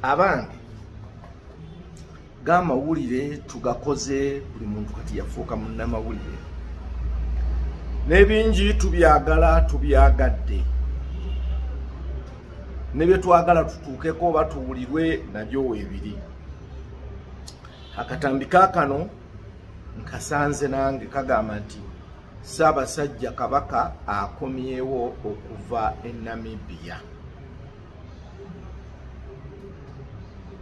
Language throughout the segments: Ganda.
abange gamawulire tugakoze buli muntu kati yafuuka munnamawulire n'ebingi tubyagala tubyagadde ne bye twagala tutuukeko oba tuwulirwe nabyo weebiri akatambi kaakano nkasanze nange kagamba nti Ssaabasajja Kabaka akomyewo okuva e Namibia.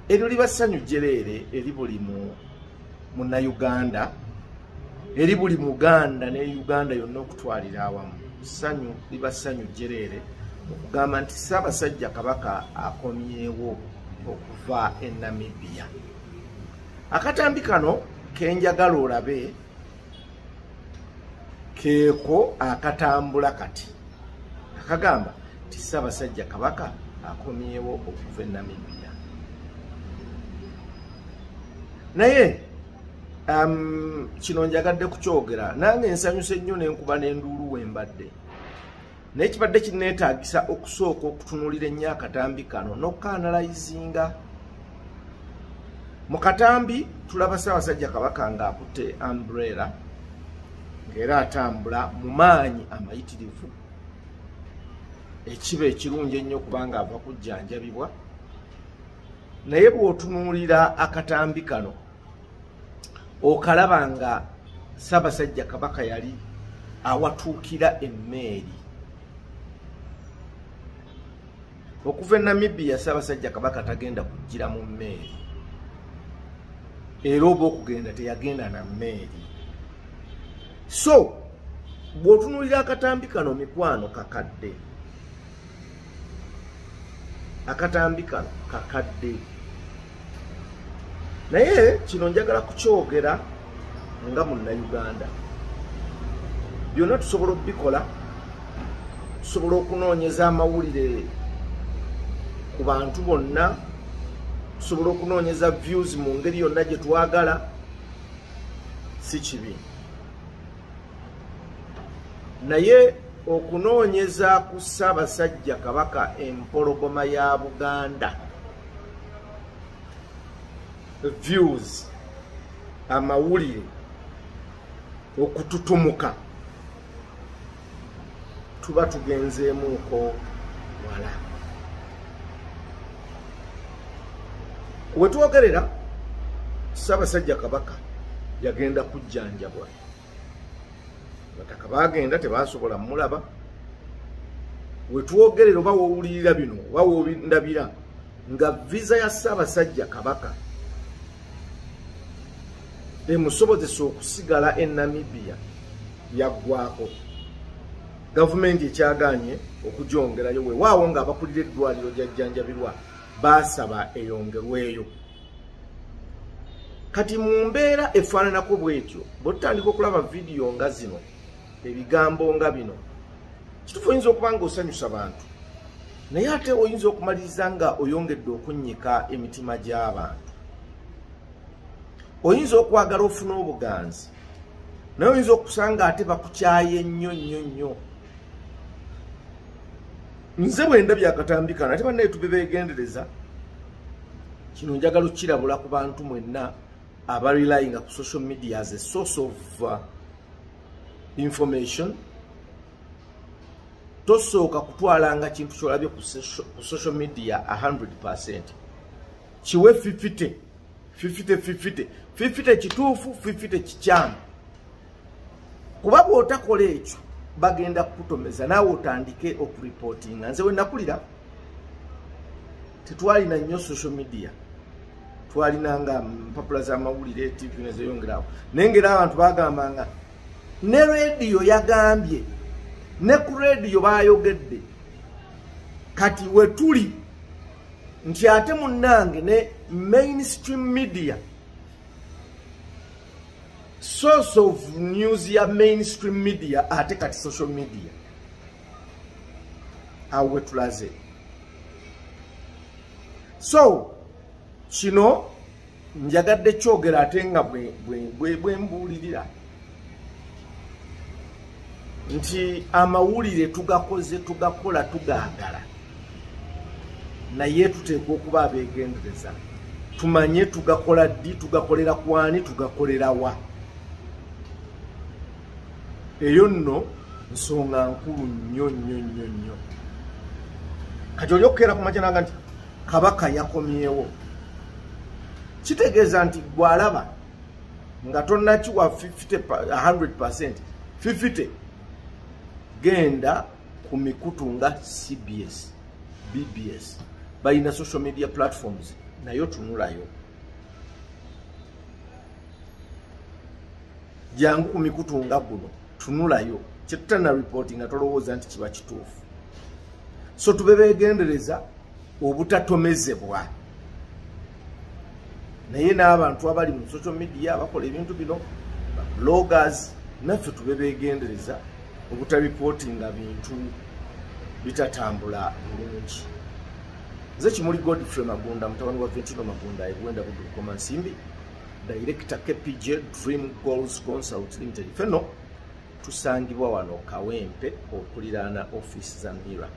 Eryo liba ssanyu jjereere eri buli munnayuganda eri buli muganda ne Uganda yonna okutwalira awamu. Ssanyu liba ssanyu jjereere okugamba nti Ssaabasajja Kabaka akomyewo okuva e Namibia. Akatambi kano kenjagala olabe keeko akatambula kati akagamba nti ssaabasajja kabaka akomyewo okuva e namibia naye um, kino njagadde kukyogera nange ensanyusa ennyo nenkuba nenduulu wembadde naye kibadde kinneetaagisa okusooka okutunuulira ennyo akatambi kano n'okukaanalayizinga mu katambi tulaba ssaabasajja kabaka ng'akutte ambrela ng'era atambula mu maanyi amayitirivu ekiba ekirungi ennyo kubanga ava kujjanjabibwa naye bw'otunuulira akatambi kano okalaba nga sabasajja kabaka yali awatuukira emmeeri okuva e namibia sabasajja kabaka tagenda kujjira mu mmeeri era oba okugenda teyagenda na mmeeri so bw'otunuulira akatambi kano mikwano kakadde akatambi kano kakadde naye kino njagala kukyogera nga munnayuganda byonna tusobola okubikola tusobola okunoonyeza amawulire ku bantu bonna tusobola okunoonyeza views mu ngeri yonna gye twagala si kibi naye okunoonyeza ku ssaabasajja kabaka empologoma ya buganda views amawulire okututumuka tuba tugenzeemuuko wala wetwogerera ssabasajja kabaka yagenda kujjanjabwa bataka bagenda tebasobola mulaba wetwogerera oba wowulirira bino oba wondabira nga viza ya ssaabasajja kabaka emusobozesa okusigala e namibia yaggwako gavumenti ekyagaanye okugyongerayo wewaawo nga abakulira eddwaliro gyajjanjabirwa baasaba eyongerweyo kati mu mbeera efaananako bwetyo bwetutandika okulaba vidiyo nga zino ebigambo nga bino kitufu oyinza okuba nga osanyusa bantu naye ate oyinza okumaliriza nga oyongedde okunnyika emitima gy'abantu oyinza okwagala ofuna obuganzi naye oyinza okusanga ate bakukyaye nnyo nnyo nnyo nze bwenda byakatambikana ate banaye tube begendereza kino njagala okukirabula ku bantu mwenna abarelyinga ku social media as a source of uh, information tosooka kutwalanga kintu kyolabye ku social media 100 percent kiwe fifite fifite fifite fifite kituufu fifite kikyamu kuba bwotakola ekyo bagenda kukutomeza naawe otandike okuripootinga nze wenakulira tetwalina nnyo social media twalina nga mpapula zamawulire tv nezeyongerawo naye ngaera abantu bagamba nga ne rediyo yagambye ne ku rediyo bayogedde kati wetuli nti ate munnange ne mainstream media source of news ya mainstream media ate kati social media awo wetulaze so kino njagadde kyogera ate nga bwembuulirira nti amawulire tugakoze tugakola tugaagala naye tuteekwa okuba abeegendereza tumanye tugakola ddi tugakolera kwani tugakolera wa eyo nno nsonga nkulu nnyo nnyo nnyo nnyo kati oli okukeera ku majananga nti kabaka yakomyewo kitegeeza nti gwalaba nga tonakiwa 100 50 genda ku mikutu nga cbs bbs balina social media platforms nayo tunulayo jangu ku mikutu nga guno tunulayo kyetutana reporti nga tolowooza nti kiba kituufu so tube begendereza obutatomezebwa naye n'abantu abali mu social media abakola ebintu bino bloggers naffe tube begendereza obutabipotinga bintu bitatambula bulungi nze kimuli godfrey magunda mutabani wa ventino magunda ebwenda budukoma nsimbi director kpj dream goals consult limited feno tusangibwa wano kawempe okuliraana ofiisi za mira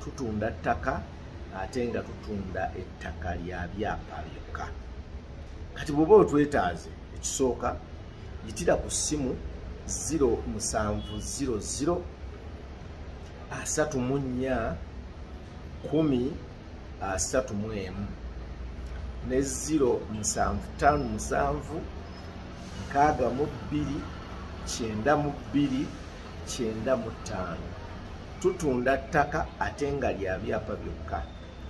tutunda ttaka ate nga tutunda ettaka lya byapa byokka kati bwoba otwetaaze ekisooka yitira ku ssimu 0700 asatu mu nnya kumi asatu mu emu ne ziro musanvu tano musanvu nkaaga mu bbiri kyenda mu bbiri kyenda mu ttaano tutunda ttaka ate nga lya byapa byokka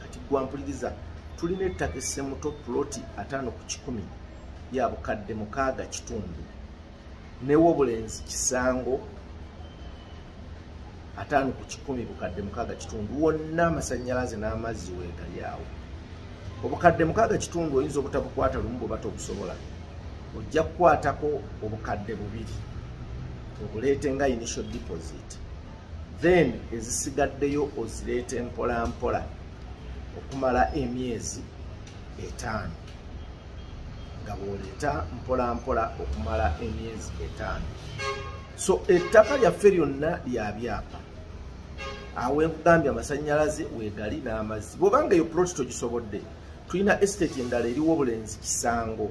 kati gwampuliriza tulina ettaka essemuto puloti ataano ku kikumi ya bukadde mukaaga kitundu newobulenzi kisango ataano ku kikumi bukadde mukaaga kitundu wonna amasanyalaze n'amazzi wegali awo obukadde mukaaga kitundu oyinza obutabukwata lumu bwebata obusobola ojja kukwatako obukadde bubiri obuleete nga initial deposit then ezisigaddeyo ozireeta empolampola okumala emyezi etaano nga bwoleeta mpolampola okumala emyezi etaano so ettaka lyaffe lyonna lya byapa awenkugambye amasanyalaze wegali n'amazzi bwobanga eyo ploti togisobodde tulina estate endala eriwo obulenzi kisango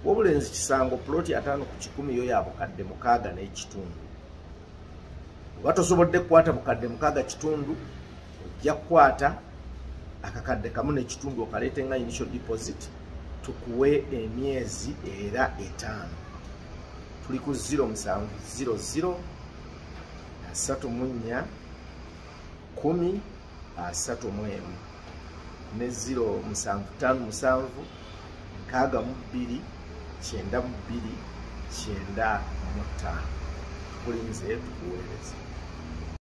wobulenzi kisango ploti ataano ku kikumi yo ya bukadde mukaaga n'ekitundu oba tosobodde kukwata bukadde mukaaga kitundu ojja kukwata akakadde kamu nekitundu okaleete nga initial deposit tukuwe emyezi era etaano tuli ku 0 musanvu 00 asatu mu nnya kumi asatu mu emu ne 0 musanvu taano musanvu nkaaga mu bbiri kyenda mu bbiri kyenda mu ttaano kulinze tukuweereza